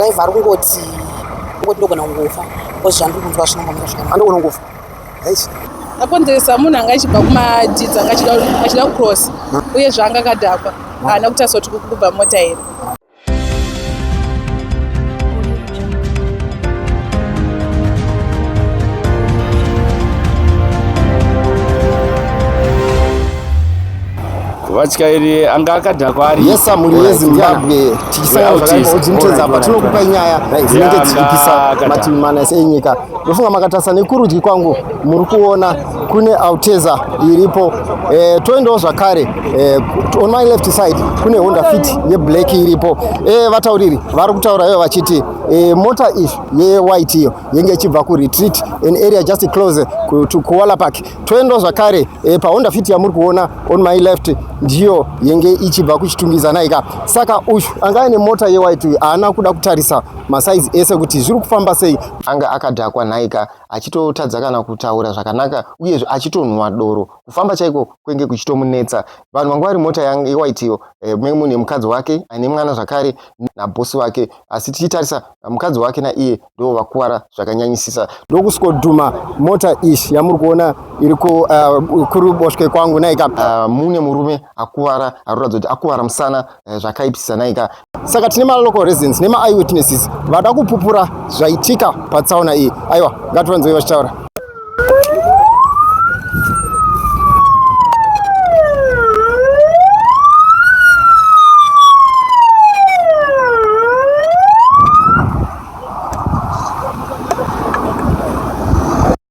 driver ari kungoti kungoti ndogona kungofa bcause zvandiri kunzwa zvino ngamira zvakanaka andogona kungofa yes akonzeresa munhu anga achibva kumadhidza achida kucross uye zvaanga akadhakwa haana kutasoti kubva mota here vatyairi anga akadhakwa ari yesa mhuri yezimbabwe tichisangaodzimutedza apa tinokupa nyaya dzinenge dzichipisa mativi mana ese enyika ndofunga makatarisa nekurudyi kwangu muri kuona kune Alteza iripo eh, toendawo zvakare eh, on my left side kune Honda Fit yeblack iripo eh, vatauriri vari kutaura ivo vachiti eh, mota ish yewhite iyo yenge ichibva kuretreat an area just close to Kuala Park toendawo zvakare eh, paHonda Fit yamuri kuona on my left ndiyo yenge ichibva kuchitungidzana ika saka uyu anga aine mota yewhite uyu haana kuda kutarisa masaizi ese kuti zviri kufamba sei anga akadhakwa nhaika achitotadza kana kutaura zvakanaka uyezve achitonhuwa doro kufamba chaiko kwenge kuchitomunetsa vanhu vanga vari mota yewaitiyo eh, menge munhu yemukadzi wake aine mwana zvakare nabhosi vake asi tichitarisa mukadzi wake naiye ndo vakuvara zvakanyanyisisa ndokuswodhuma mota ish yamuri kuona iri eh, kuruboshwe kwangu naika ah, mune murume akuvara aroratidza kuti akuvara musana eh, zvakaipisisa naika saka tine malocal residents nema eye witnesses vada kupupura zvaitika patsaona iyi aiwa ngativanzoi vachitaura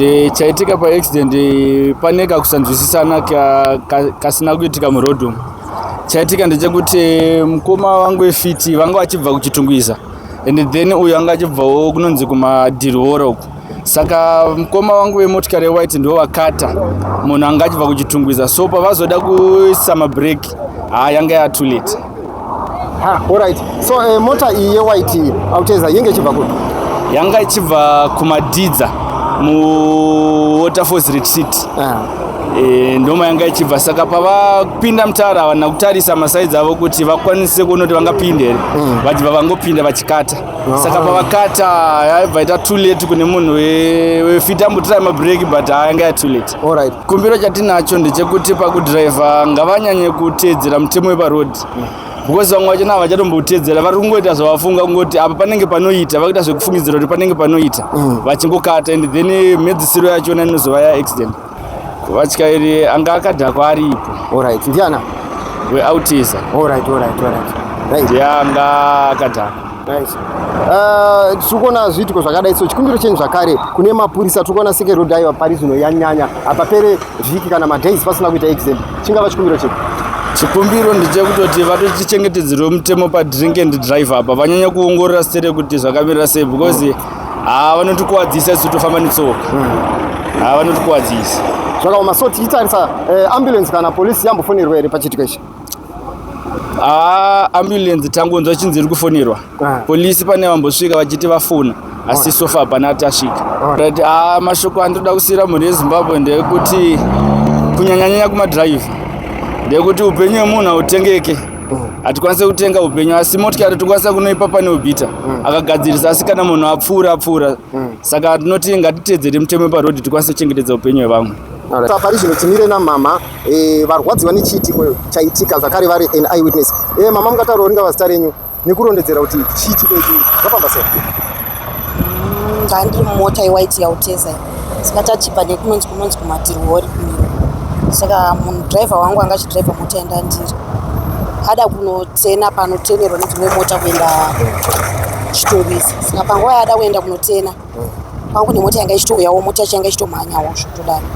Eh, chaitika pa accident eh, pane kakusanzwisisana kasina kuitika muroad umu chaitika ndechekuti eh, mukoma wangu wefiti vanga vachibva kuchitungwiza and then uyu anga achibvawo kunonzi kumadhirihora uku saka mkoma wangu vemotikari yewhite ndivo vakata munhu anga achibva kuchitungwiza so pavazoda kuisa mabreaki haa yanga yatulate orit so uh, mota iyi yewhite iyi auteza yenge ichibva kupi yanga ichibva kumadidza muwaterfalls retreat uh ah. -huh. Eh, ndoma yanga ichibva saka pavapinda mutara havana kutarisa masaidzi avo kuti vakwanise kuona kuti vangapinde here mm. vachibva vangopinda vachikata saka pavakata yaibva ita too late kune munhu wefiti ambotira mabreak but ayanga ya too late alright kumbiro chatinacho ndechekuti pakudriver ngavanyanye kuteedzera mutemo weparoad because vamwe vachona havachatomboteedzera vari kungoita zvavafunga kungoti apa panenge panoita vakuita zvekufungidzira kuti panenge panoita mm. vachingokata and then mhedzisiro yachona inozova ya accident Vatyairi anga akadhakwa aripo. Alright, ndiana? Weautiza. Alright, alright, alright. Right. Ndiye anga akadhakwa. Nice. Uh, tiri kuona zviitiko zvakadai so chikumbiro chenyu zvakare kune mapurisa tiri kuona seke road aiva pari zvino yanyanya hapapere vhiki kana madays pasina kuita exam chingava chikumbiro chedu chikumbiro ndechekutoti vatotichengetedzerwe mutemo padrink and drive apa vanyanya kuongorora sere kuti zvakamirira sei because Haa vanotikuwadzisa isu tofamba netsoka. Haa vanotikuwadzisa. Zvakaoma so tichitarisa eh, ambulance kana police yambofonerwa here pachiitiko ichi? Haa ambulance tangonzwa chinzi iri kufonerwa. Ah. Police pane vambosvika vachiti vafona asi so far hapana tasvika. Right, haa mashoko andinoda kusiyira mhuri yeZimbabwe ndeyekuti kunyanyanyanya kumadrive ndeyekuti upenyu hwemunhu hautengeke. hatikwanise kutenga upenyu asi motikari tikwanisa kunoipa pane ubhita mm. akagadzirisa asi kana munhu apfuura apfuura mm. saka tinoti ngatitedzere mutemo weparodi tikwanise kuchengetedza upenyu hwevamwe pari zvino timire namama eh, varwadzi vane chiitiko chaitika zvakare vari an eye witness eh, mama mungataura ringa vazita renyu nekurondedzera kuti chiitiko ichi zvafamba sei ndandiri mm, mumota yewaiti yautesa saka tachibva nekunonzi kunonzi kumatirwori kumiro saka munhu driver wangu anga achidriver mota yandandiri ada kunotena panotenerwa nedzimwe mota kuenda chitungwizi saka panguva yaada kuenda kunotena pangu nemota yanga ichitouyawo mota yacho yanga ichitomhanyawo zvotodaro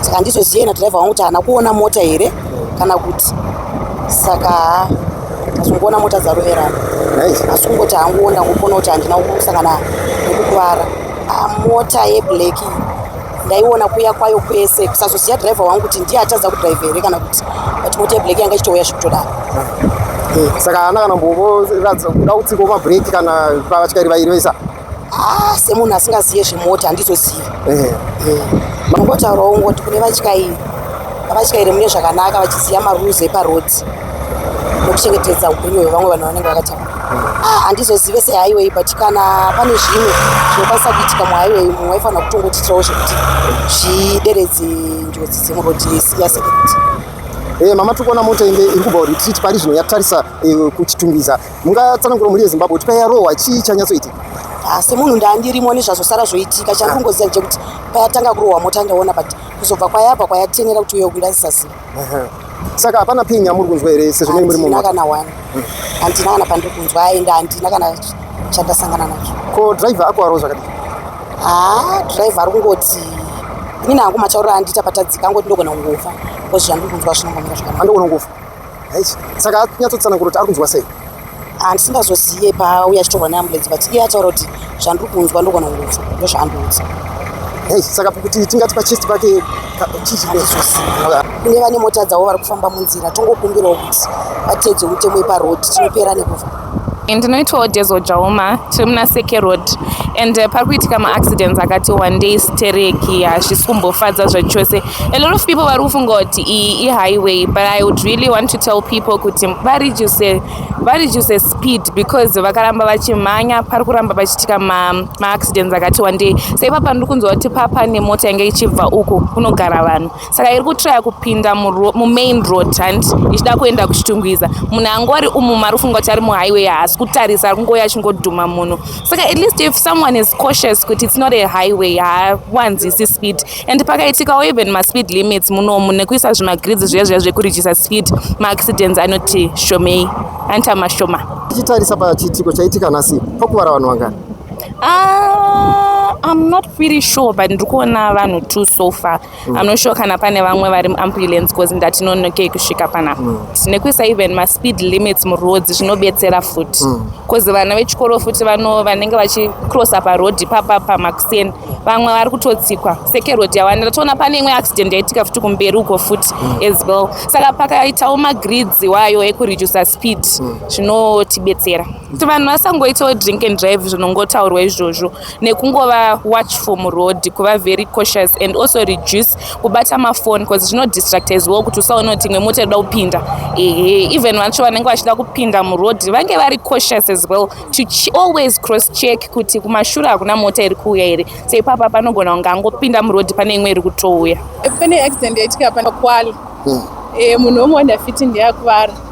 saka ndizozive nadriver wangu kuti haana kuona mota here kana kuti saka asi kuona mota dzaroverana asi kungoti hangu wonda kuona kuti handina kusangana nekukuvara ah, mota yeblack ndaiona kuya kwayo kwese kusazoziva driver wangu kuti ndiye atadza kudrive here kana kuti but mota yeblack yanga ichitouya zvekutodaro eh. saka ana kana mbovoratidza kuda kutsikawo mabreak kana pavatyairi vairi vaisa Ah, semunhu asingazive zvemota handizozivi eh. eh. mangotaurawo ngoti kune vatyairi avatyairi mune zvakanaka vachiziva marules eparodhi nokuchengetedza upenyu hwevamwe vanhu vanenge vakatama ah, handizozive sehighway but kana pane zvimwe zvinokwanisa kuitika muhighway mumwe waifanira kutongotiitirawo zvekuti zvideredze njodzi dzemurodhi yaseketi eh, mama tikuona mota inge iri kubva retreat pari zvino yatarisa kuchitungwiza mungatsanangura mhuri yezimbabwe kuti payarohwa chii chanyatsoitika ah, semunhu ndandirimo nezvazosara zvoitika chari kungoziva chekuti payatanga kurohwa mota ndaona but kuzobva kwayabva kwayatenera kuti uye kundazisaziva saka hapana pin yamuri kunzwa here sezvo mei muri mumota kana one handina kana pandiri kunzwa aenda handina kana chandasangana nacho ko driver ako aro zvakadii haa ah, driver ari kungoti ini nangu mataurira andita patadzika angoti ndogona kungofa bcause zvandiri kunzwa zvinongomira zvakanaka andogonongofa saka anyatsotsanangura kuti ari kunzwa sei handisingazozive paauya achitaura neambulenzi but iye ataura kuti zvandiri kunzwa ndogona kunzwa ndozvaandiudza hei saka kuti tingati pachest pake chichinezoziva kune vane mota dzavo vari kufamba munzira tongokumbirawo kuti vateedze mutemo yeparoad tinopera nekufa ndinoitwawo dezo jauma tiri muna seke road and uh, pari kuitika maaccidents akati wandei stereki hazvisi kumbofadza zvachose a lot of people vari kufunga kuti iyi ihighway but i would really want to tell people kuti vareduce vareduce speed because vakaramba vachimhanya pari kuramba pachiitika maaccidents ma akati wandei seipapa ndiri kunzwa kuti papa nemota yange ichibva uku kunogara vanhu saka iri kutraya kupinda mumain road and ichida kuenda kuchitungwiza munhu angori umu mari ufunga kuti ari muhighway haasi kutarisa ari kungouya achingodhuma munhu saka at least if someone is cautious kuti its not a highway haawanzisi speed and pakaitikawo even maspeed limits munomu nekuisa zvimagrids zviya zviya zvekurijisa speed maaccidents anoti shomei anti amashoma tichitarisa pachiitiko chaitika nhasi pakuvara vanhu vangani ah, i'm not pretty sure but ndiri kuona vanhu two so far mm. I'm not sure kana pane vamwe vari ambulance cause ndatinonokei kusvika panapa mm. nekuisa even maspeed limits muroad zvinobetsera futi mm. cause vana vechikoro futi vano vanenge vachicrossa paroad papa pamakuseni vamwe vari kutotsikwa seke road yawanira toona pane imwe accident yaitika futi kumberi uko futi mm. as well saka pakaitawo magrids wayo ekureducer speed mm. zvinotibetsera mm. kuti vanhu vasangoitawo drink and drive zvinongotaurwa izvozvo nekungova watch from road kuva very cautious and also reduce kubata mafoni bcause zvinodistracta as well kuti usaona kuti imwe mota inoda kupinda ehe even vacho vanenge vachida kupinda muroad vange vari cautious as well to ch always cross check kuti kumashure hakuna mota iri kuuya here so ipapa panogona kunge angopinda muroad pane imwe iri kutouya pane accident yaitika panakwali hmm. eh, munhu omwe wandafiti ndeyakuvara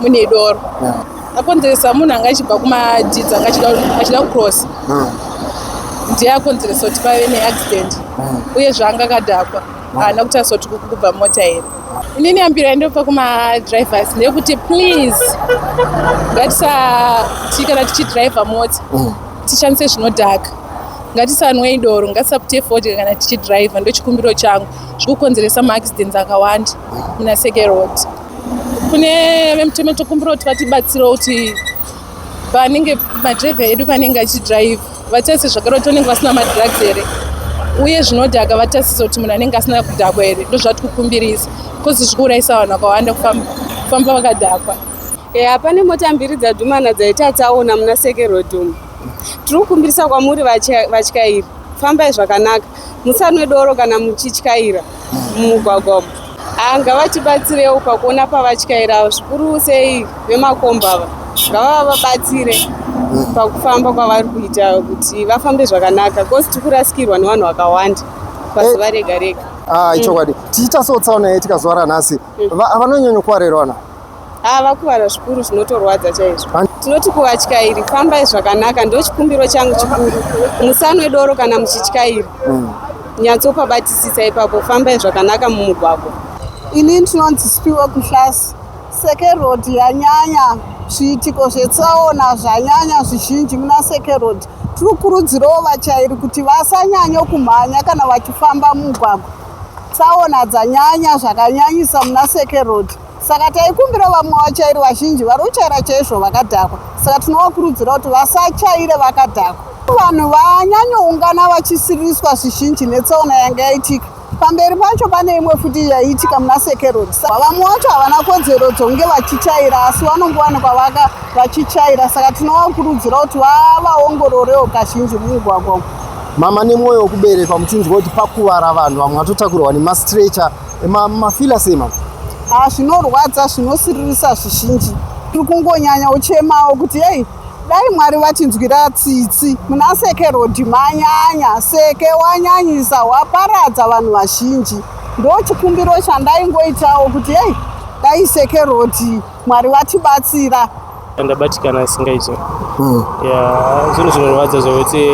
mune doro akonzeresa munhu anga achibva kumadhidzi anga achida kucross ndiye akonzeresa kuti pave neaccident uye zvaanga akadhakwa haana kuti asoti kubva mota here inini yambiro yandopa kumadrivers ndeyekuti please ngatisati kana tichidrive mota mm. tishandise zvinodhaka ngatisanwei doro ngatisapute fodya kana tichidrive ndochikumbiro changu zvikukonzeresa maaccidents akawanda muna seke road kune vemutemo tokumbira kuti vatibatsirewo kuti vanenge madrive edu vanenge achidrive vatarise zvakare kuti vanenge vasina madrugs here uye zvinodhaka vatarise kuti munhu anenge asina kudhakwa here ndozvati kukumbirisa bcause zviri kuurayisa vanhu vakawanda kufamba vakadhakwa eya pane mota mbiri dzadhumana dzaita tsaona muna sekerodhum tiri kukumbirisa kwamuri vatyairi fambai zvakanaka musanwe doro kana muchityaira mumugwagwa umu ah, ngavatibatsirewo pakuona pavatyairawo zvikuru sei vemakomba ava ngavavabatsire mm. pakufamba kwavari kuita kuti vafambe zvakanaka bcause tiri kurasikirwa nevanhu vakawanda pazuva eh. rega rega ah, ichokwadi mm. tiita so tsaona yaitika zuva ranhasi mm. vanonyanya kuwarerana Ah, vakuvara zvikuru zvinotorwadza chaizvo. Tinoti kuvatyairi fambai zvakanaka ndochikumbiro changu chikuru. Musanwe doro kana muchityaira. Mm. Nyatsopa batisisa ipapo fambai zvakanaka mumugwagwa. Ini ndinonzi Spiwa Kuhlasi. Seke Road yanyanya zviitiko zvetsaona zvanyanya zvizhinji muna Seke Road. Tiri kukurudzirawo vatyairi kuti vasanyanye kumhanya kana vachifamba mumugwagwa. Tsaona dzanyanya zvakanyanyisa muna Seke Road. Saka taikumbira vamwe vachairi vazhinji vari kuchaira chaizvo vakadhakwa, saka tinovakurudzira kuti vasachaire vakadhakwa. Vanhu vanyanyoungana vachisiriswa zvizhinji netsaona yanga yaitika. Pamberi pacho pane imwe futi yaiitika muna Seke Road. Vamwe vacho havana kodzero dzonge vachichaira asi vanongowanikwa vaka vachichaira, saka tinovakurudzira kuti vavaongororewo kazhinji mumugwagwa umu. Mama nemwoyo wekuberekwa muchinzwa kuti pakuvara vanhu vamwe vatotakurwa nemastretcher mafila sema ah, zvinorwadza zvinosiririsa zvizhinji tiri kungonyanya uchemawo kuti yei dai mwari vachinzwira tsitsi muna seke rodhi manyanya seke wanyanyisa waparadza vanhu vazhinji ndo chikumbiro chandaingoitawo kuti yei dai seke rodhi Mwari vatibatsira. Ndabatikana isingaite. Mm. Yeah, zvinhu zvinorwadza zvekuti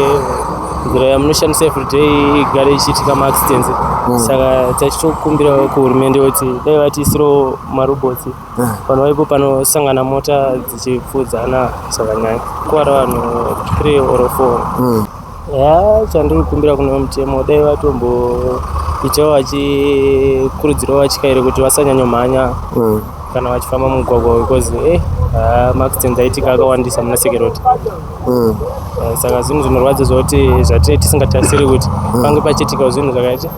nzira yamunoshandisa everyday igare ichiitika maaccidents mm. saka tachitokumbira kuhurumende kuti dai vatiisiro marobotsi mm. vanhu vaipo panosangana mota dzichipfuudzana zvakanyanya kuvara vanhu three or four mm. Haa chandiri kukumbira kune mutemo dai vatomboitawo vachikurudzirawo vatyairi kuti vasanyanyomhanya mm. kana vachifamba mumugwagwa because eh, uh, maaccident aitika akawandisa muna security mm. uh, saka zvinhu zvinorwadza zvokuti zvatinee tisingatarisiri kuti mm. pange pachiitikawo zvinhu zvakaita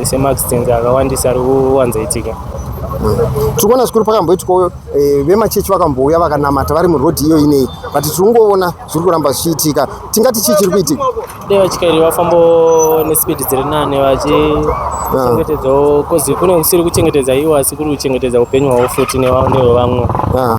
semaaccident akawandisa ari kuwanza itika tiri kuona zvikuru pakamboitwawo eh, vemachechi vakambouya vakanamata vari murodhi iyo inei but tiri kungoona zviri kuramba zvichiitika tingati chii chiri kuitika dai vatyairi vafambo nespeed dziri nane vachichengetedzawo ah. kozi kune kusiri kuchengetedza iwo asi kuri kuchengetedza upenyu hwavo futi nevamwe ah.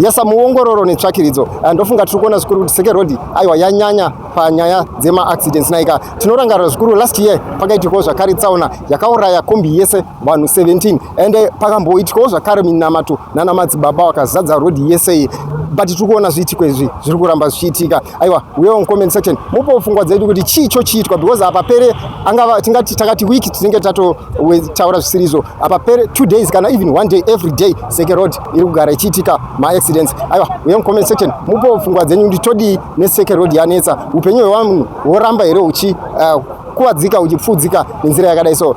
yesa muongororo netsvakiridzo ah, ndofunga tiri kuona zvikuru kuti seke road aiwa yanyanya panyaya dzemaaccidents naika tinorangarira zvikuru last year pakaitikawo zvakare tsaona yakauraya kombi yese vanhu 17 ende eh, pakamboitikawo zvakare minamato nana madzibaba wakazadza road yese iyi but tiri kuona zviitiko izvi zviri kuramba zvichiitika aiwa uyewo mucomment section mupo pfungwa dzedu kuti chii chochiitwa because apa pere angava tingati takati week tinenge tatotaura zvisiri izvo apa pere two days kana even one day every day seke road iri kugara ichiitika maaccidents aiwa uye mucomment section mupo pfungwa dzenyu kuti todii neseke road yanetsa upenyu hwevanhu hworamba here uchi uh, kuvadzika uchipfuudzika nenzira yakadai so